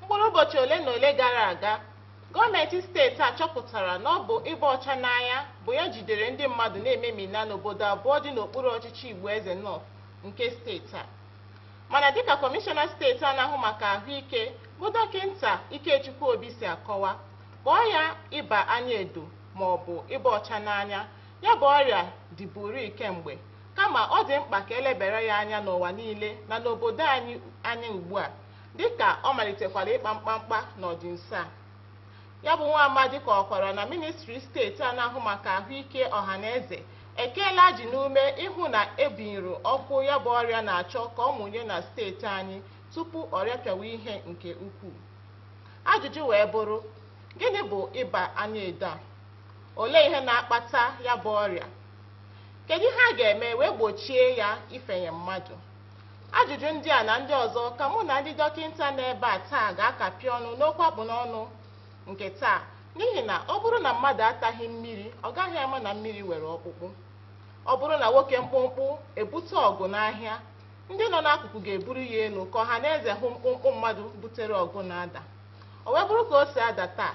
mkpụrụ ụbọchị ole na ole gara aga gọọmenti steeti a chọpụtara na ọ bụ ịba ọcha n'anya bụ ya jidere ndị mmadụ na-ememina n'obodo abụọ dị n'okpuru ọchịchị igbo eze north nke steeti a Mana dịka Kọmishọna steeti a na-ahụ maka ahụike bụ dọkịnta Ikechukwu Obi si akọwa, kpọọ ya ịba anya edo maọbụ ịba ọcha n'anya, ya bụ ọrịa dịburịị kemgbe, kama ọ dị mkpa ka elebere ya anya n'ụwa niile na n'obodo anyị anya ugbua, dịka ọ malitekwara ịkpa mkpamkpa n'ọdịnso a. Ya bụ nwa amadi kọwakwara na ministri steeti a na-ahụ maka ahụike ọhaneze ekeela ajị n'ume ịhụ na ebinyụrụ ọkụ ya bụ ọrịa na-achọ ka ọ mụnye na steeti anyị tupu ọrịa pịawa ihe nke ukwuu. Ajụjụ wee bụrụ, gịnị bụ ịba anya edo a? Olee ihe na-akpata ya bụ ọrịa? Kedu ihe a ga-eme wee gbochie ya ifenye mmadụ? Ajụjụ ndị a na ndị ọzọ ka mụ na ndị dọkịnta nọ ebe a taa ga-akapị ọnụ n'okwu akpụ n'ọnụ nke taa n'ihi na ọ bụrụ na mmadụ ataghị mmiri ọ gaghị ama na mmiri nwere ọkpụkpụ. Ọ bụrụ na nwoke mkpụmkpụ ebute ọgụ n'ahịa, ndị nọ n'akụkụ ga-eburu ya elu ka ọha na eze hụ mkpụmkpụ mmadụ butere ọgụ na-ada. O wee bụrụ ka o si ada taa,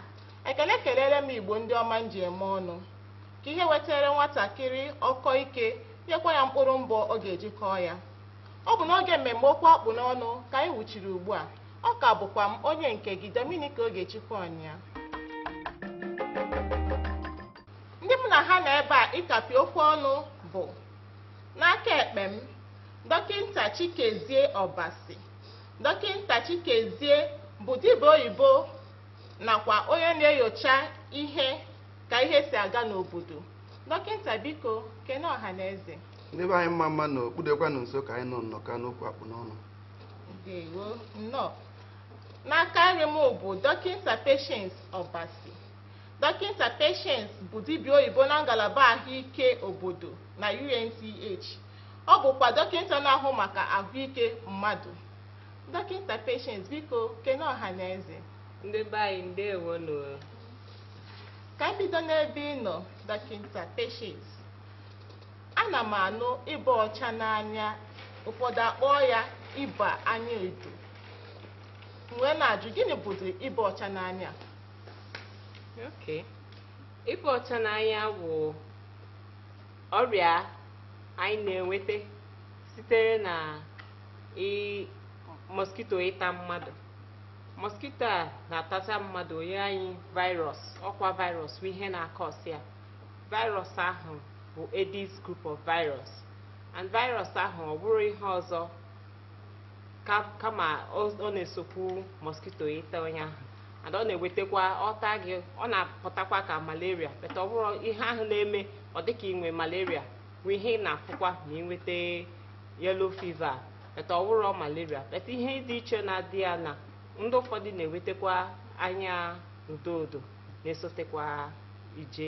ekele kelere m Igbo ndị ọma m ji eme ọnụ. ka ihe wetara nwatakịrị ọkọ ike nyekwa ya mkpụrụ mbọ ọ ga-eji kọọ ya ọ bụ n'oge mmemme okwu akpụ n'ọnụ ka anyị wuchiri ugbu a ọ ka bụkwa m onye nke gị Dominic Ogechukwu Ọnya ndị mụ na ha nọ ebe a ịkapị okwu ọnụ bụ n'aka ekpe m dọkịnta Chikezie Ọbasi dọkịnta Chikezie bụ dibịa oyibo nakwa onye na-enyocha ihe ka ihe si aga n'obodo dọkịnta biko kene ọha na eze ndị be anyị mma mma nụ o kpudekwanụ nso ka anyị nọ nnọkọ n'okwu akpụ n'ọnụ ndewo nnọọ n'aka nri m bụ dọkịnta Patience Ọbasi dọkịnta Patience bụ dibịa oyibo na ngalaba ahụike obodo na UNTH ọ bụkwa dọkịnta na-ahụ maka ahụike mmadụ dọkịnta Patience biko kene ọha na eze ndị be anyị ndewo nụ Ka m bido n'ebe ị nọ, Dọkịnta Patience. Ana m anụ ịba ọcha n'anya, ụfọdụ akpọọ ya ịba anya edo. M wee na-ajụ gịnị bụzi ịba ọcha n'anya? Okay. Ịba ọcha n'anya bụ ọrịa anyị na-enweta sitere na ị- mosquito ịta mmadụ. mosquito a na-atacha mmadụ o nye anyị virus ọkwa virus bụ ihe na-cause ya virus ahụ bụ Aedes group of virus and virus ahụ ọ bụrọ ihe ọzọ kama ọ na-esokwu mosquito ịta onye ahụ and ọ na-ewetakwa ọ taa gị ọ na-apụtakwa ka malaria but ọ bụrọ ihe ahụ na-eme ọ dịka i nwee malaria bụ ihe ị na-afụkwa ma ị nweta yellow fever but ọ wụrọ malaria but ihe dị iche na-adị ya na ndị ụfọdụ na-enwetekwa anya odo odo na-esotekwa ije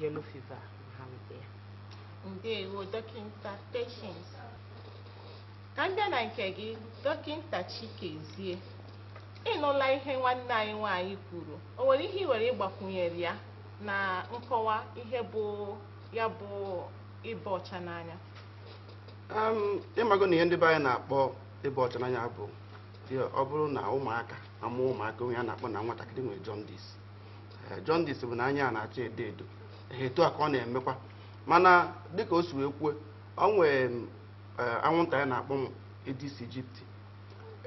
yellow fever ma ha nweta ya ndewo dọkịnta Patience ka m bịa na nke gị dọkịnta Chikezie ị nụla ihe nwanne anyị nwaanyị kwuru o nwere ihe i nwere ịgbakwunyere ya na nkọwa ihe bụ ya bụ ịba ọcha n'anya ị mago na ihe ndị be anyị na-akpọ ịba ọcha n'anya bụ ọ bụrụ na ụmụaka a mụọ ụmụaka onye a na-akpọ na nwatakịrị nwere jaundice eh, jaundice bụ na anya a na-acha edo edo etu a ka ọ na-emekwa mana dịka o si wee kwuo o nwee eh, anwụnta anyị na-akpọ m Aedes aegypti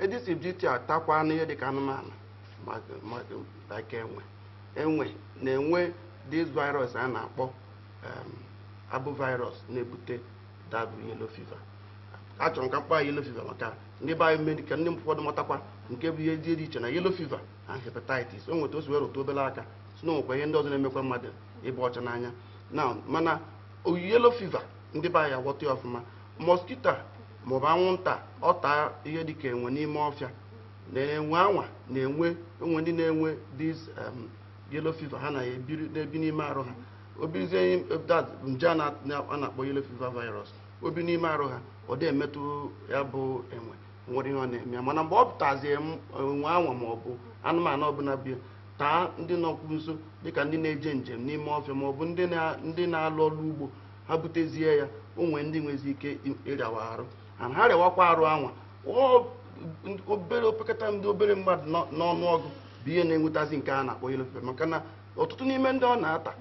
Aedes aegypti atakwanụ ihe dịka anụmanụ like enwe enwe na-enwe this virus a na-akpọ um, arbovirus na-ebute ya bụ yellow fever achọrọ m ka m kpọọ yellow fever maka ndị be anyị mee ka ndị ụfọdụ matakwa nke bụ ihe dị iche na yellow fever na hepatitis o nwe etu o si wee rụtụ obere aka sị na o nwekwa ihe ndị ọzọ na-emekwa mmadụ ịba ọcha n'anya na mana yellow fever ndị be anyị aghọta ya ọfụma mosquito maọbụ anwụnta ọ taa ihe dịka enwe n'ime ọfịa na enwe anwa na-enwe enwe ndị na-enwe these um, yellow fever ha na ya ebiri na-ebi n'ime arụ ha o bizie that nje a na- na- a na-akpọ yellow fever virus o bi n'ime arụ ha ọ da emetụ ya bụ enwe nwerọ ihe ọ na-eme ya mana mgbe ọ tazie m- enwe anwa ma ọ bụ anụmanụ ọbụla bịa taa ndị nọkwu nso dịka ndị na-eje njem n'ime ọfịa ma ọ bụ ndị na- ndị na-alụ ọrụ ugbo ha butezie ya o nwee ndị nwezi ike ịrịawa arụ and ha rịawakwa arụ anwa obere opekata ndị obere mmadụ n'ọnụ ọgụ bụ ihe na-enwetazi nke a na-akpọ yellow fever maka na ọtụtụ n'ime ndị ọ na-ata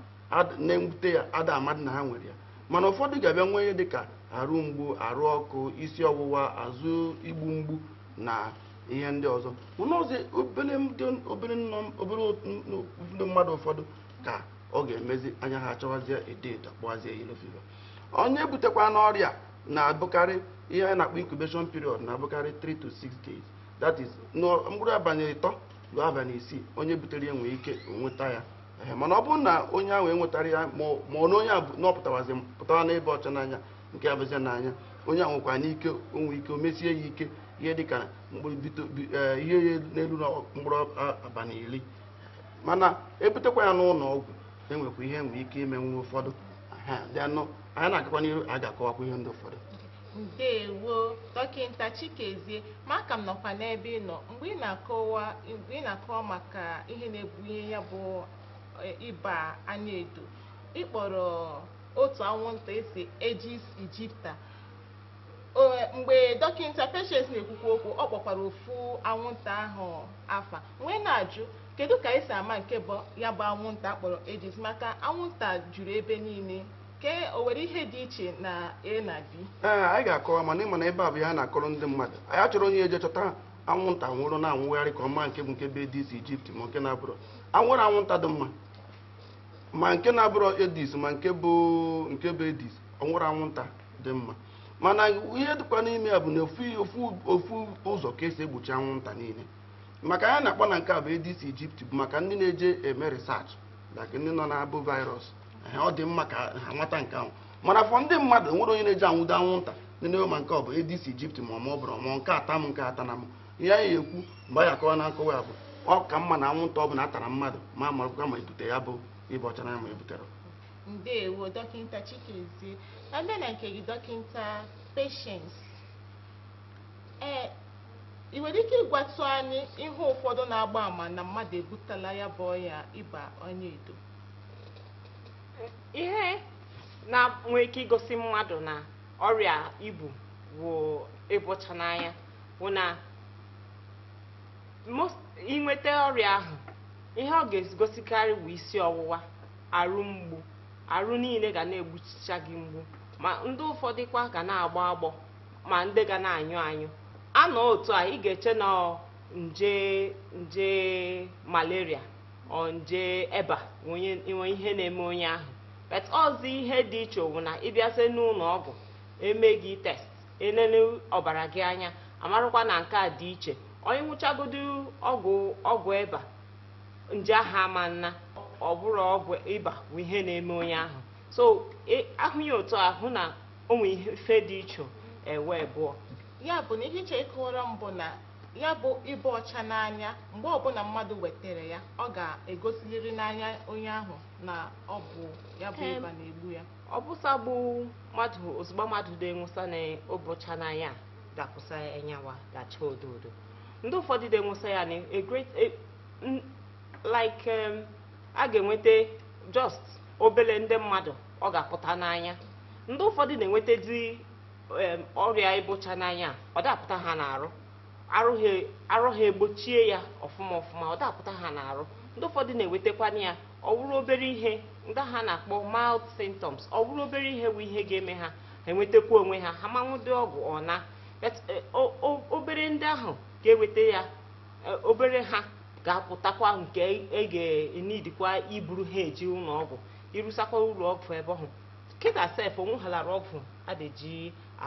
na-ebute ya ada amadị na ha nwere ya mana ụfọdụ ga-abịa nwee ihe dịka arụ mgbu arụ ọkụ isi ọwụwa azụ igbu mgbu na ihe ndị ọzọ mana ọzọ obere ndị mmadụ ụfọdụ ka ọ ga-emezi anya ha achawazie edo edo a kpọwazie yellow fever onye butekwanụ ọrịa na-abụkarị ihe a na-akpọ incubation period na-abụkarị 3 to 6 days that is mkpụrụ abalị ịtọ ruo abalị isii onye butere ya nwee ike nweta ya mana ọ bụrụ na onye ahụ nwetara ya ma ọ na onye na ọ pụtawazi pụtara n'ịba ọcha n'anya nke a bụzi n'anya onye ahụ nwekwa n'ike o nwee ike o mesie ya ike ihe dịka e, ihe ya n'elu na mkpụrụ abalị iri mana e butekwa ya n'ụlọ ọgwụ e nwekwa ihe e nwee ike imenwu ụfọdụ anyị na-agakwa n'ihu a ga-akọwakwa ihe ndị ụfọdụ ndewo dọkịta Chikezie ma a ka m nọkwa n'ebe ị nọ mgbe ị na-akọwa maka ihe na-ebunye ya bụ e, ịba anya edo ị kpọrọ otu anwụnta a sị Aedes aegypti O- mgbe dọkịta Patience na-ekwukwa okwu ọ kpọkwara ofu anwụnta ahụ afa wee na-ajụ Kedu ka e si ama nke bụ ya bụ anwụnta a kpọrọ Aedes maka anwụnta juru ebe niile ke o nwere ihe dị iche na A na B? Ee, anyị ga-akọwa mana ị ma na ebe a bụ ihe a na-akọrọ ndị mmadụ anyị achọrọ onye eje chọta anwụnta nwụrụ na-anwụgharị ka ọ ma nke bụ nke bụ Aedes aegypti ma nke na-abụrọ enwerọ anwụnta dị mma ma nke na-abụrọ Aedes ma nke bụ nke bụ Aedes o nwerọ anwụnta dị mma mana ihe dịkwa n'ime ya bụ na ofu ụzọ ka e si egbochi anwụnta niile maka ihe a na-akpọ na nke a bụ Aedes aegypti bụ maka ndị na-eje eme research like ndị nọ na Arbovirus Ehe, ọ dị mma ka ha mata nke ahụ mana for ndị mmadụ enwerọ onye na-eje anwụdo anwụnta nene ma nke ọ bụ Aedes aegypti ma ọ ma ọ bụrọ ma nke a ta m nke a atana m ihe anyị ekwu mgbe anyị akọwa na nkọwa ya bụ ọ ka mma na anwụnta ọ bụla atarọ mmadụ ma amarakwa ma ebute ya bụ ịba ọcha n'anya ma ebuterọ ndewo dọkịta Chikezie a bịa na nke gị dọkịta Patience ee ị nwere ike ịgwatụ anyị ihe ụfọdụ na-agba ama na mmadụ ebutela ya bụ ọya ịba anya edo ihe nwee ike igosi mmadụ na ọrịa i bu wụ ịba ọcha n'anya bụ na i nweta ọrịa ahụ ihe ọ ga-egosikarị bụ isi ọwụwa arụ mgbu arụ niile ga na-egbuchicha gị mgbu ma ndị ụfọdụkwa ga na-agbọ agbọ ma ndị ga na-anyụ anyụ a nọ otu a ị ga-eche na ọ nje nje malaria or nje ịba wụ ihe na-eme onye ahụ but ọ sọ ihe dị iche ọ wụ na ị bịazie n'ụlọ ọgwụ e me gị test e lele ọbara gị anya a marakwa na nke a dị iche onye ṅụchagodu ọgwụ ọgwụ ịba nje ahụ ama ana ọ bụrọ ọgwụ ịba bụ ihe na-eme onye ahụ so ị hụ ya otu ahụ na o nwere ife dị iche ebe abụọ ya bụ na ihe iche ịkọwara m bụ na ya bụ ịba ọcha n'anya mgbe ọbụla mmadụ nwetara ya ọ ga-egosiliri n'anya onye ahụ na ọ bụ ya bụ ịba na-egbu ya ọ bụsa bụ mmadụ ozugbo mmadụ dị nwesa na ịba ọcha n'anya ga-apụsa ya n'anya ọ ga-acha odo odo ndị ụfọdụ dị nwesa ya na like a ga-enweta just obele ndị mmadụ ọ ga-apụta n'anya ndị ụfọdụ na-enwetadị em, ọrịa ịba ọcha n'anya ọ da-apụta ha n'arụ arụ ha- arụ ha egbochie ya ọfụma ọfụma ọ da-apụta ha n'arụ ndị ụfọdụ na-enwetakwana ya ọ wụrụ obere ihe ndị ha na-akpọ mild symptoms ọ wụrụ obere ihe bụ ihe ga-eme ha ha enwetakwa onwe ha ha ama aṅụdị ọgwụ ọ naa But, eh, o- o- obere ndị ahụ ga-enweta ya eh, obere ha ga-apụtakwa nke e ga-enidikwa iburu ha eje ụlọ ọgwụ irusakwa ụlọ ọgwụ ebe ahụ kịta sef o nwehalara ọgwụ a na-eji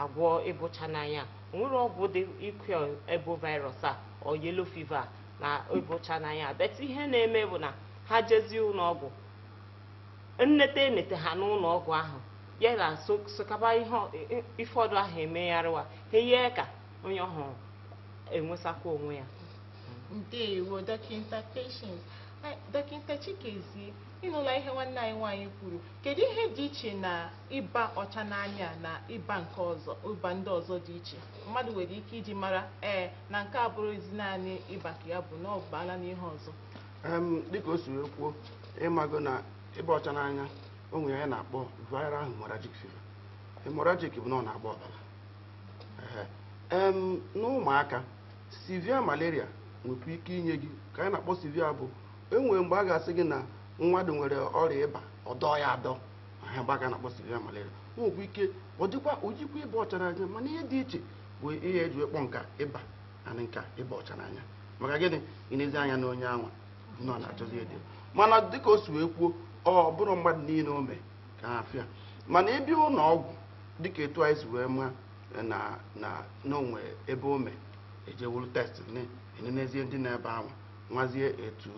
agwọ ịba ọcha n'anya o nwere ọgwụ dị ike egbu virus a ọ yellow fever na ịba ọcha n'anya but ihe na-eme bụ na ha jezie ụlọ ọgwụ e nete e nete ha n'ụlọ ọgwụ ahụ ya na sokaba ihe ụfọdụ ahụ emegharịwa ha ihe ka onye ahụ enwesakwa onwe ya ndewo dọkịta Patience dọkịta Chikezie Ị nụla ihe nwanne anyị nwaanyị kwuru. Kedụ ihe dị iche na ịba ọcha n'anya a na ịba nke ọzọ, ịba ndị ọzọ dị iche mmadụ nwere ike iji mara ee na nke a abụrụghịzi naanị ịba ka ya bụ, na ọ baala n'ihe ọzọ? Em, dịka o si wee kwuo ịmago na ịba ọcha n'anya o nwere ihe anyị na-akpọ viral hemorrhagic fever hemorrhagic bụ na ọ na-agba ọbara Ehe. em n'ụmụaka severe malaria nwekwa ike inye gị ka anyị na-akpọ severe bụ e nwere mgbe a ga-asị gị na mmadụ nwere ọrịa ịba ọ dọ ya adọ ha mgbe a ga na-akpọ severe malaria o nwekwa ike ọ dịkwa o yikwa ịba ọcha n'anya mana ihe dị iche bụ ihe e ji akpọ nke a ịba na nke a ịba ọcha n'anya maka gịnị ị nezie anya na onye anwa na ọ na-achazi edo mana dịka o si wee kwuo ọ bụrọ mmadụ niile o mee ka ha afịa mana ịbịa ụlọ ọgwụ dịka etu anyị si wee ma na na na o nwe ebe o mee ejewuru test na-enenezie ndị nọ ebe anwa mazie etu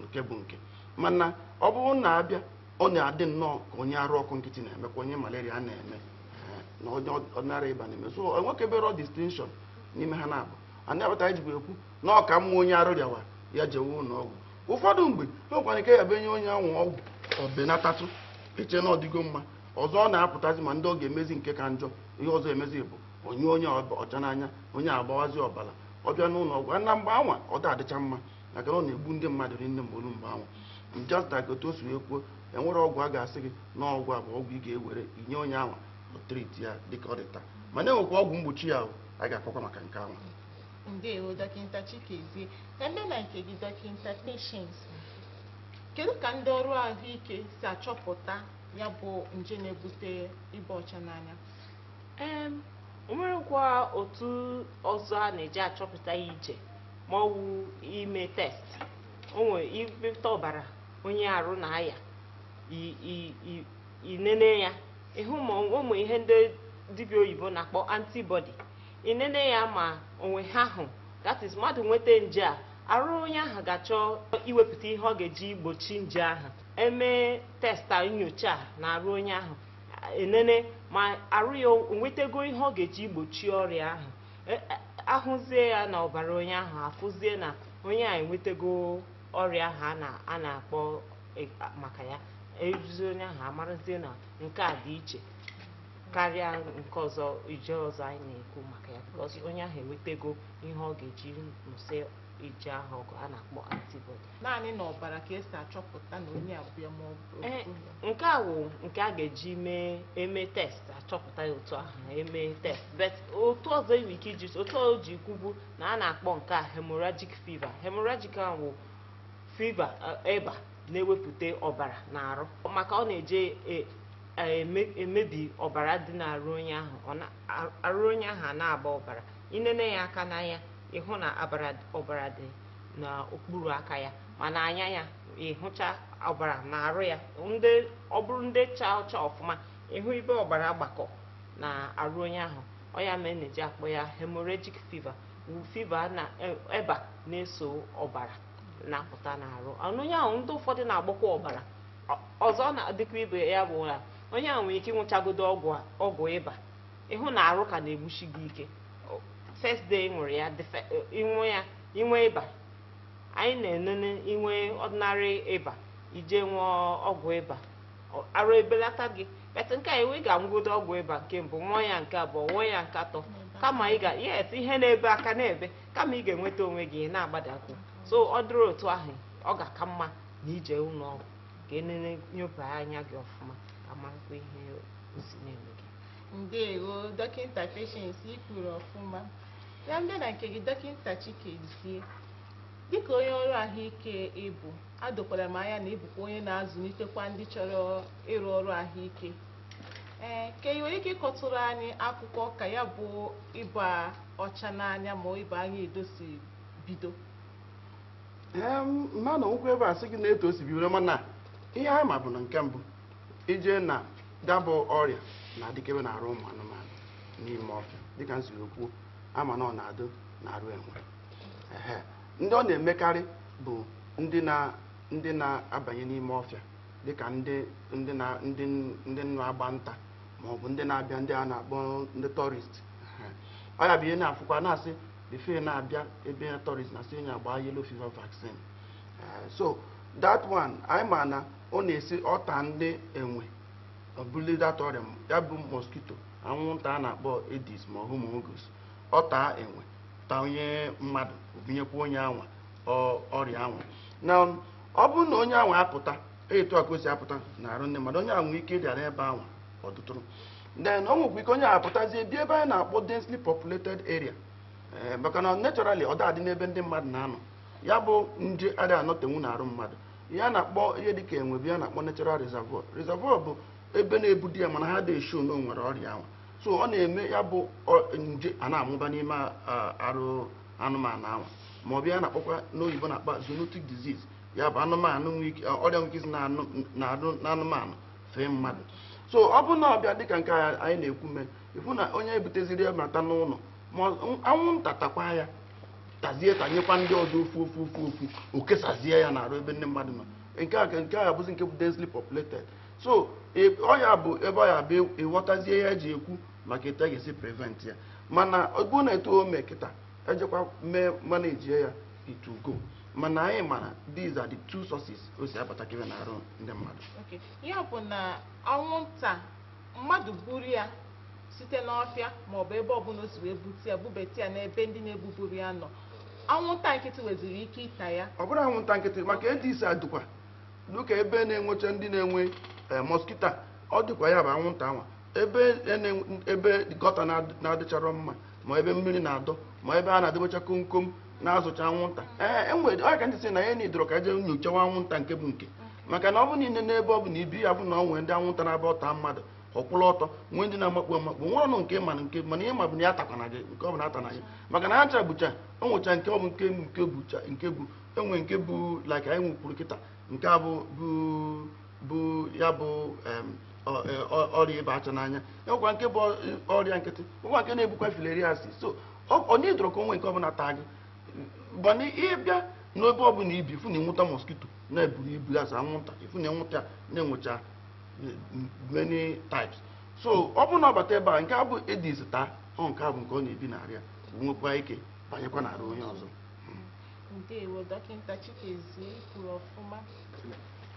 nke bụ nke mana ọ bụrụ na abịa ọ na-adị nnọọ ka onye arụ ọkụ nkịtị na-eme ka onye malaria na-eme eh, na onye ordinary ịba na-eme so enwekeberọ distinction n'ime ha naabọ ya kpata anyị jibu ekwu na ọ ka mma onye arụ rịawa ya jewe ụlọ ọgwụ ụfọdụ mgbe e nwekwara ike ya bụ enye onye anwa ọgwụ ọ benatatụ e chee na ọ dịgo mma ọzọ ọ na-apụtazi ma ndị ọ ga-emezi nke ka njọ ihe ọzọ emezi bụ onye onye ọcha n'anya onye agbawazi ọbara ọ bịa n'ụlọ ọgwụ na mgbe anwa ọ da-adịcha mma maka na ọ na-egbu ndị mmadụ rinne mgbe o lu mgbe anwa just like otu o si wee kwuo enwere ọgwụ a ga-asị gị na ọgwụ a bụ ọgwụ ị ga-ewere inye onye anwa ọ treat ya dịka ọ dị taa mana enwekwa ọgwụ mgbochi ya ahụ a ga-akọkwa maka nke anwa ndewo dọkịta chikezie eme na nke gị dọkịta patience kedu ka ndị ọrụ ahụike si achọpụta ya bụ nje na-ebute ịba ọcha n'anya Em, o nwerekwa otu ọzọ a na-eji achọpụta ya iche ma ọ wụ ime test o nwere iwepụta ọbara onye arụ na-aya i- i- i- inene ya ịhụ ma o nwere ihe ndị dibịa oyibo na-akpọ antibody inene ya ma o nwe ha ahụ that is mmadụ nweta nje a arụ onye ahụ ga-achọ iwepụta ihe ọ ga-eji gbochi nje ahụ emee test a nyochaa na arụ onye ahụ enene ma arụ ya o nwetego ihe ọ ga-eji gbochi ọrịa ahụ e, e, ahụzie ya na ọbara onye ahụ afụzie na onye a enwetego ọrịa ahụ a na-akpọ e, maka ya eruzi onye ahụ amarazie na nke a dị iche karịa nke ọzọ nje ọzọ anyị na-ekwu maka ya because onye ahụ enwetego ihe ọ ga-eji nụsị nje ahụ ọgụ a na-akpọ antibody naanị na ọbara ka e si achọpụta na onye a bụ ya ma ọ bụ eh, nke a wụ nke a ga-eji mee eme test achọpụta ya otu ahụ eme test but otu ọzọ e nwe ike iji otu o ji kwubu na a na-akpọ nke a hemorrhagic fever hemorrhagic ahụ wụ fever eh, ịba na-ewepụta ọbara n'arụ maka ọ na-eje eh, emebi ọbara dị n'arụ onye ahụ arụ onye ahụ a na-agba ọbara inene ya aka n'anya ịhụ na ọbara dị n'okpuru aka ya ma n'anya ya ịhụcha ọbara na arụ ya ndị ọ bụrụ ndị cha ọcha ọfụma ịhụ ibe ọbara gbakọ na arụ onye ahụ ọ ya mere na-eji akpọ ya hemorrhagic fever wụ fever na e- ịba na-eso ọbara na-apụta n'arụ Ọnụ onye ahụ ndị ụfọdụ na-agbakwa ọbara Ọ- ọzọ na-adịkwa ibe ya bụ na onye ahụ nwere ike ịnwụchagodo ọgwụ a- ọgwụ ịba ịhụ na arụ ka na-egbusi gị ike first day ị ṅụrụ ya the fir- ịṅụ ya inwe ịba anyị na-enene inwe ordinary ịba ije nwụọ ọgwụ ịba ọ- arụ ebelata gị but nke a iwe ị ga-anwụgodo ọgwụ ịba nke mbụ nwụọ ya nke abụọ nwụọ ya nke atọ kama ị ga yes ihe na-ebe aka na-ebe kama ị ga-enweta onwe gị ị na-agbadakwu so ọ dịrị otu ahụ ọ ga-aka mma na ije ụlọ ọgwụ ka enene nyoba anya gị ọfụma ka a marakwa ihe o si na-eme gị ndewo dọkịta Patience i kwuru ọfụma Ya m bịa na nke gị Dọkịnta Chikezie. Dịka onye ọrụ ahụike ị bụ, a dokwara m anya na ị bụkwa onye na-azụlitekwa ndị chọrọ ịrụ ọrụ ahụike. Ee, ka ị nwere ike ịkọtụrụ anyị akụkọ ka ya bụ ịba ọcha n'anya ma ịba anya edo si bido? Em, mma na ụkwụ ebe a sị gị na etu o si bido mana ihe anyị ma bụ na nke mbụ ije na dabụ ọrịa na-adịkebe n'arụ ụmụ anụmanụ n'ime ọfịa dịka m siri kwuo a ma na ọ na-adụ n'arụ enwe Ehe. ndị ọ na-emekarị bụ ndị na ndị na-abanye n'ime ọfịa dịka ndị ndị na ndị ndị na-agba nta ma ọ bụ ndị na-abịa ndị a na-akpọ ndị tourist ọ ya bụ ihe na-afụkwa na-asị before na-abịa ebe tourist na-asị onye agbaa yellow fever vaccine Eh, so that one anyị ma na ọ na-esi ọ taa ndị enwe o bulie that ọrịa m- ya bụ mosquito anwụnta a na-akpọ Aedes ma Haemagogus ọ taa enwe taa onye mmadụ o bunyekwa onye anwa ọ- ọrịa anwa na ọ bụrụ na onye anwa apụta etu a ka o si apụta n'arụ ndị mmadụ onye anwa nwee ike dị ebe anwa ọ dụtụrụ then ọ nwekwa ike onye a apụtazie bịa ebe anyị na-akpọ densely populated area Eh, maka na naturally ọ da-adị n'ebe ndị mmadụ na-anọ ya bụ nje ada anọtenwu n'arụ mmadụ ihe a na-akpọ ihe dịka enwe bụ ihe a na-akpọ natural reservoir reservoir bụ ebe na-ebudo ya mana ha da esho na o nwere ọrịa anwa so ọ na-eme ya bụ ọ- nje a na-amụba n'ime a- arụ anụmanụ anwa ma ọ bụ ihe a na-akpọkwa n'oyibo na-akpọ zoonotic disease ya bụ anụmanụ nwee ike ọrịa nwee ike isi n'anụ n'arụ n'anụmanụ fee mmadụ so ọ bụrụ na ọ bịa dịka nke a anyị na-ekwu mee ị fụ na onye ebuteziri ya nata n'ụnọ ma ọ- anwụnta takwa ya tazie tanyekwa ndị ọzọ ofu ofu ofu ofu o kesazie ya n'arụ ebe ndị mmadụ nọ nke a nke a bụzi nke bụ densely populated so ọ ya bụ ebe ọ ya bụ ị ghọtazie ihe e ji ekwu maka etu a ga-esi prevent ya mana ọ bụrụ na etu o mee kịta e jekwa mee manage ya it will go mana anyị mara these are the two sources o si abatakebe n'arụ ndị mmadụ ya bụ na anwụnta mmadụ buru ya site n'ọfịa maọbụ ebe ọbụla o si wee bute ya bubeta ya n'ebe ndị na-ebuburọ ya nọ anwụnta nkịtị nweziri ike ịta ya ọ bụrọ anwụnta nkịtị maka Aedes adụkwa dịka ebe na-enwecha ndị na-enwe eh, mosquito ọ dịkwa ya bụ anwụnta anwa ebe e na-enwe- ebe gutter na-ad- na-adịcharọ mma ma ebe mmiri na-adọ ma ebe a na-edebecha komkom na-azụcha anwụnta ee enwere ọ ya ka ndị si na ya na idoro ka e je nyochawa anwụnta nke bụ nke maka na ọ bụ na i nene ebe ọ bụna i bi ya bụ na ọ nwee ndị anwụnta na-abụ ọ ta mmadụ ọ kwụrụ ọtọ nwee ndị na-amakpu amakpu nwere ọnụ nke mana nke mana ihe ma bụ na ya takwana gị nke ọ bụna ata na ya maka na ha ncha bụcha o nwecha nke ọ bụ nke nke bụcha nke bụ enwe nke bụ like anyị nwekwuru kịta nke a bụ bụ bụ ya bụ em, ọ- e- ọ- ọrịa ịba acha n'anya enwekwa nke bu ọrịa nkịtị nwekwa nke na-ebukwa filariasis so ọ- ọ n'idoro ka o nwe nke ọ bụla taa gị mana ị bịa n'ebe ọ bụla i bi fụ na anwụta mosquito na-eburu ibu ya anwụnta ị fụ na anwụta na-enwecha many types so ọ bụrụ na ọ bata ebe a nke a bụ Aedes taa ọ nke a bụ nke ọ na-ebi n'area nwekwa ike banyekwa n'area onye ọzọ ndewo dọkịta Chikezie kwuru ọfụma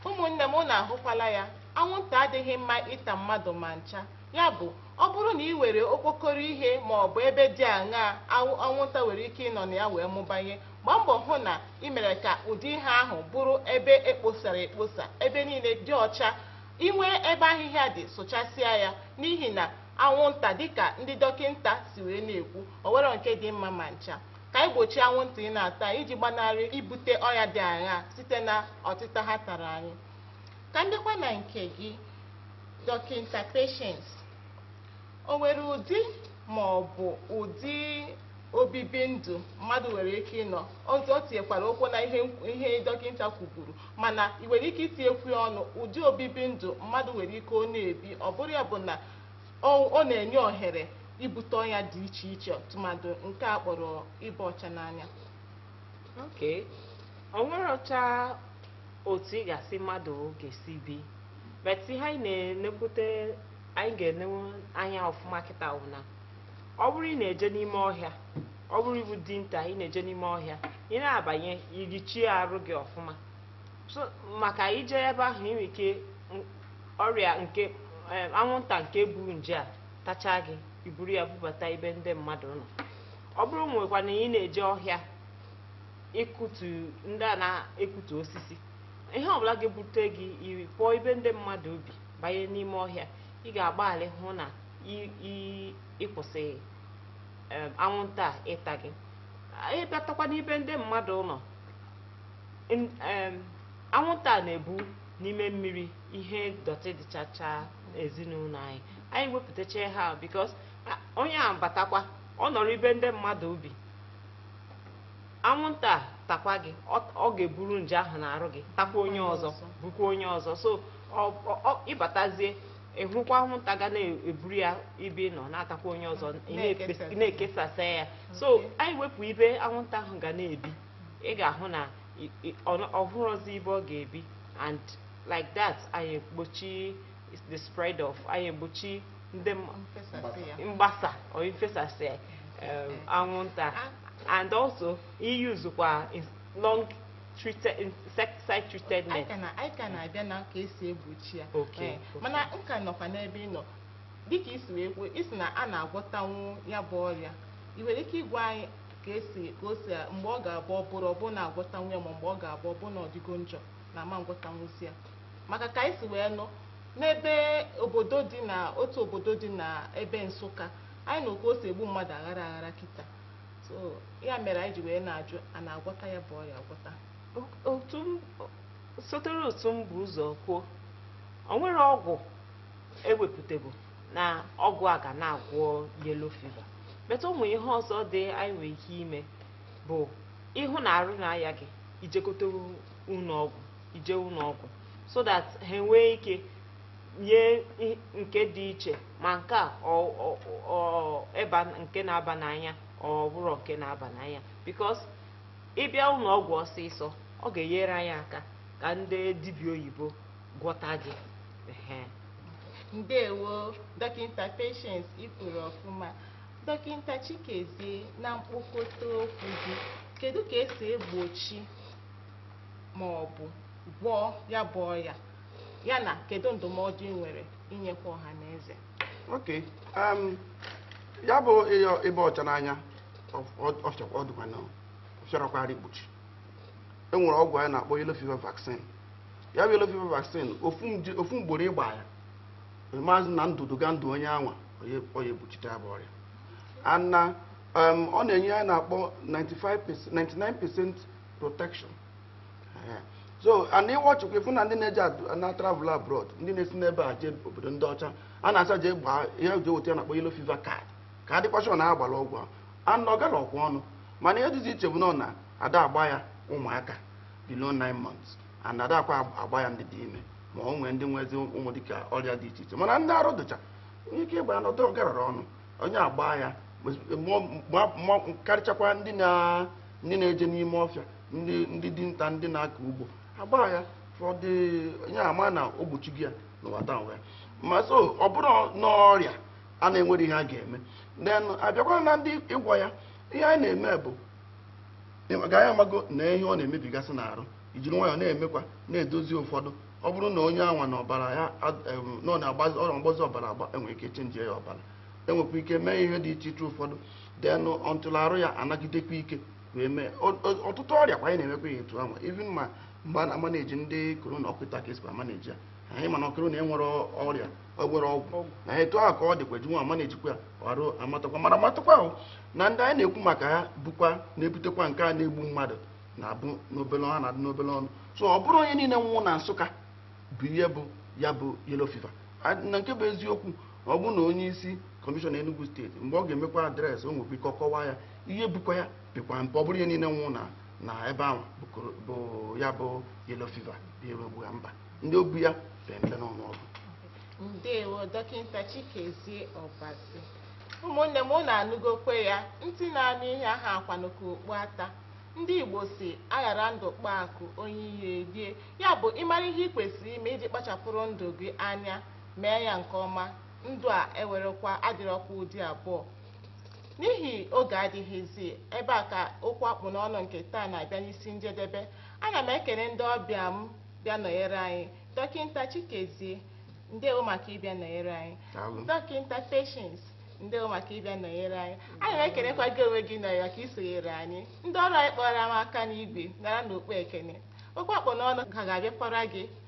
ụmụnne m na ahụkwala ya anwụnta adịghị mma ịta mmadụ ma ncha ya bụ ọ bụrụ na i nwere okpokoro ihe ma ọ bụ ebe dị aṅaa anwụnta nwere ike ịnọ na ya wee mụbanye gbaa mbọ hụ na ị mere ka ụdị ihe ahụ bụrụ ebe e kposara ekposa ebe niile dị ọcha i nwee ebe ahịhịa dị sụchasịa ya n'ihi na anwụnta dịka ndị dọkịnta si wee na-ekwu o nweghị nke dị mma ma ncha ka anyị gbochie anwụnta ịna-ata anyị iji gbanarị ibute ọya dị aṅaa site na ọtịta ha tara anyị ka m bịakwa na nke gị dọkịnta Patience O nwere ụdị ma ọ bụ ụdị obibi ndụ mmadụ nwere ike ịnọ ọzọ ọ tinyekwara ụkwụ na ihe ihe dọkịta kwuburu mana ị nwere ike itinyekwu ya ọnụ ụdị obibi ndụ mmadụ nwere ike ọ na-ebi ọ bụrụ ya bụ na ọ ọ na-enye ohere ibute ọya dị iche iche tụmadụ nke a kpọrọ ịba ọcha n'anya okay o nwerọcha otu ị ga-asị mmadụ ga-esi bi but ihe anyị na-enekwute anyị ga-enenwe anya ọfụma kịta wụ na ọ bụrụ ị na-eje n'ime ọhịa ọ bụrụ ị bụ dinta ị na-eje n'ime ọhịa ị na-abanye irichie arụ gị ọfụma so maka i jee ebe ahụ ị nwere ike m- ọrịa nke em, anwụnta nke bu nje a tachaa gị i buru ya bubata ebe ndị mmadụ nọ ọ bụrụ nwekwa na ị na-eje ọhịa ịkụtu ndị a na-ekụtu osisi ihe ọbụla ga-ebute gị iri pụọ ebe ndị mmadụ bi banye n'ime ọhịa ị ga-agbalị hụ na ị kwụsị um, anwụnta ịta gị ị batakwa n'ibe ndị mmadụ nọ um, anwụnta na-ebu n'ime mmiri ihe dọtị dịchacha ezinụlọ anyị anyị wepụtacha ha because onye a batakwa ọ nọrọ ibe ndị mmadụ bi anwụnta takwa gị ọ ga-eburu nje ahụ n'arụ gị takwa onye ọzọ bukwa onye ọzọ so ị batazie ị hụkwa anwụnta ga na-eburu ya ibe nọ na-atakwa onye ọzọ na-ekesasa ya so anyị wepụ ibe anwụnta ahụ ga na-ebi ị ga-ahụ na ọ hụrọzi ibe ọ ga-ebi and like that anyị egbochi the spread of anyị egbochi ndị m- mfesasị ya mgbasa or ifesasị um, anwụnta and also iusekwa ins- long treated insecticide treated net anyị ka na- anyị ka na-abịa na ka e si egbochi ya Okay, Ee, okay. mana m ka nọkwa n'ebe ị nọ dịka i si wee kwuo ị sị na a na-agwọtanwu ya bụ ọrịa ị nwere ike ịgwa anyị ka e si ka o si mgbe ọ ga-abụ ọ bụrụ ọ bụrụ na a gwọtanwu ya ma mgbe ọ ga-abụ ọ bụrụ na ọ dịgo njọ na a ma ngwọtanwuzi ya maka ka anyị si wee nụ n'ebe obodo dị na otu obodo dị na ebe Nsụka anyị nụ ka o si egbu mmadụ aghara aghara kịta so ya mere anyị ji wee na-ajụ a na-agwọta ya bụ ọrịa agwọta otu m sotere otu m bu ụzọ kwuo o nwerọ ọgwụ e wepụtago na ọgwụ a ga na-agwọ yellow fever but ụmụ ihe ọzọ dị anyị nwere ike ime bụ ị hụ na arụ na-aya gị i jegote ụlọ ọgwụ i je ụlọ ọgwụ so that ha enwee ike nye i- nke dị iche ma nke a ọ- ọ- ọ- ịba nke na-aba n'anya ọ bụrọ nke na-aba n'anya because ị bịa ụlọ ọgwụ ọsịsọ ọ ga-enyere anyị aka ka ndị dibịa oyibo gwọta gị Ehe. ndewo dọkịta Patience i kwuru ọfụma dọkịta Chikezie na mkpokọta okwu gị kedu ka e si egbochi ma ọ bụ gwọọ ya bụ ọya ya na kedu ndụmọdụ ị nwere inyekwa ọha na eze ok um, ya bụ ịba ọcha n'anya ọ fịarọkwa arụ igbochi e nwere ọgwụ anyị na-akpọ yellow fever vaccine ya bụ yellow fever vaccine ofu mgboro ị gbaa ya maazị na ndụ duga ndụ onye anwa ọ ya egbochite ya bụ ọrịa and um, ọ na-enye ihe anyị na-akpọ 99% protection so and ị watchkwa ị fụ na ndị na-eje na travel abroad ndị na-esi n'ebe a jee obodo ndị ọcha a na-asị ha jee gbaa ihe e ji eweta ihe a na-akpọ yellow fever card ka a dịkwa sure na a gbara ọgwụ ahụ and ọ gararọkwa ọnụ mana ihe dịzi iche bụ na na a da agba ya ụmụaka below 9 months and a dakwa agba ya ndị dị ime ma ọ nwee ndị nwezi ụmụ dịka ọrịa dị iche iche mana ndị arụ dụcha nwee ike ịgba ya and ọ dụrọ garara ọnụ onye agba ya karịchakwa ndị na ndị na-eje n'ime ọfịa ndị ndị dinta ndị na-akọ ugbo agba ya fọdụ onye ama na o gbochigo ya n'ụwa taa ụwa ya ma so ọ bụrụ n'ọrịa a na enwere ihe a ga-eme then abịakwa na ndị ịgwọ ya ihe anyị na-eme bụ ka anyị amago na ihe ọ na-emebigasị n'arụ ijiri nwayọọ na-emekwa na-edozi ụfọdụ ọ bụrụ na onye anwa na ọbara ya ad- em, na ọ na-agbazi ọrịa mgbazi ọbara agbaa enwere ike chenjie ya ọbara enwekwa ike mee ihe dị iche iche ụfọdụ then until arụ ya anagidekwa ike wee mee ọtụtụ ọrịa kwa anyị na-emekwa ihe etu anwa even ma mgbe a na-amaneji ndị korona ọ kwa etu a ka esi amaneji ya anyị ma na korona enwere ọrịa nwere ọgwụ na etu ahụ ka ọ dịkwa ji nwa amanejikwa arụ amatakwa mana amatakwa ahụ na ndị anyị na-ekwu maka ha bụkwa na-ebutekwa nke a na-egbu mmadụ na-abụ n'obele ọnụ na-adị n'obele ọnụ so ọ bụrọ onye niile nwụrụ na Nsụka bụ ihe gbu ya bụ yellow fever na nke bụ eziokwu ọ bụrụ na onye isi kọmishọna Enugu steeti mgbe ọ ga-emekwa adreesị o nwekwa ike ọkọwa ya ihe gbukwa ya pekwa mpe ọ bụrọ onye niile nwụ na na ebe anwa bụ ya bụ yellow fever bụ ihe gbu ya mba ndị o gbu ya pee mpe n'ọnụọgụ ndewo dọkịta chikezie ọbasi ụmụnne m ụnụ anụgokwa ya ntị na-anụ ihe ahakwanụ ka okpu ata ndị igbo sị aghara ndụ kpaa akụ onye iro erie ya bụ ịmara ihe ị kwesịrị ime iji kpachapụrụ ndụ gị anya mee ya nke ọma ndụ a enwerekwa adịrọkwa ụdị abụọ n'ihi oge adịghịzi ebe a ka okwu akpụ n'ọnụ nke taa na-abịa n'isi njedebe ana m ekele ndị ọbịa m bịa nọnyere anyị dọkịta chikezie ndewo maka ịbịa nọnyere anyị Daalụ. dọkịta patience ndewo maka ịbịa nọnyere anyị ana m ekelekwa gị onwe gị nọrọ ka i sonyere anyị ndị ọrụ anyị kpọrọ m aka n'igwe naranụ okpu ekene okwu akpụ n'ọnụ ka ga-abịakwara gị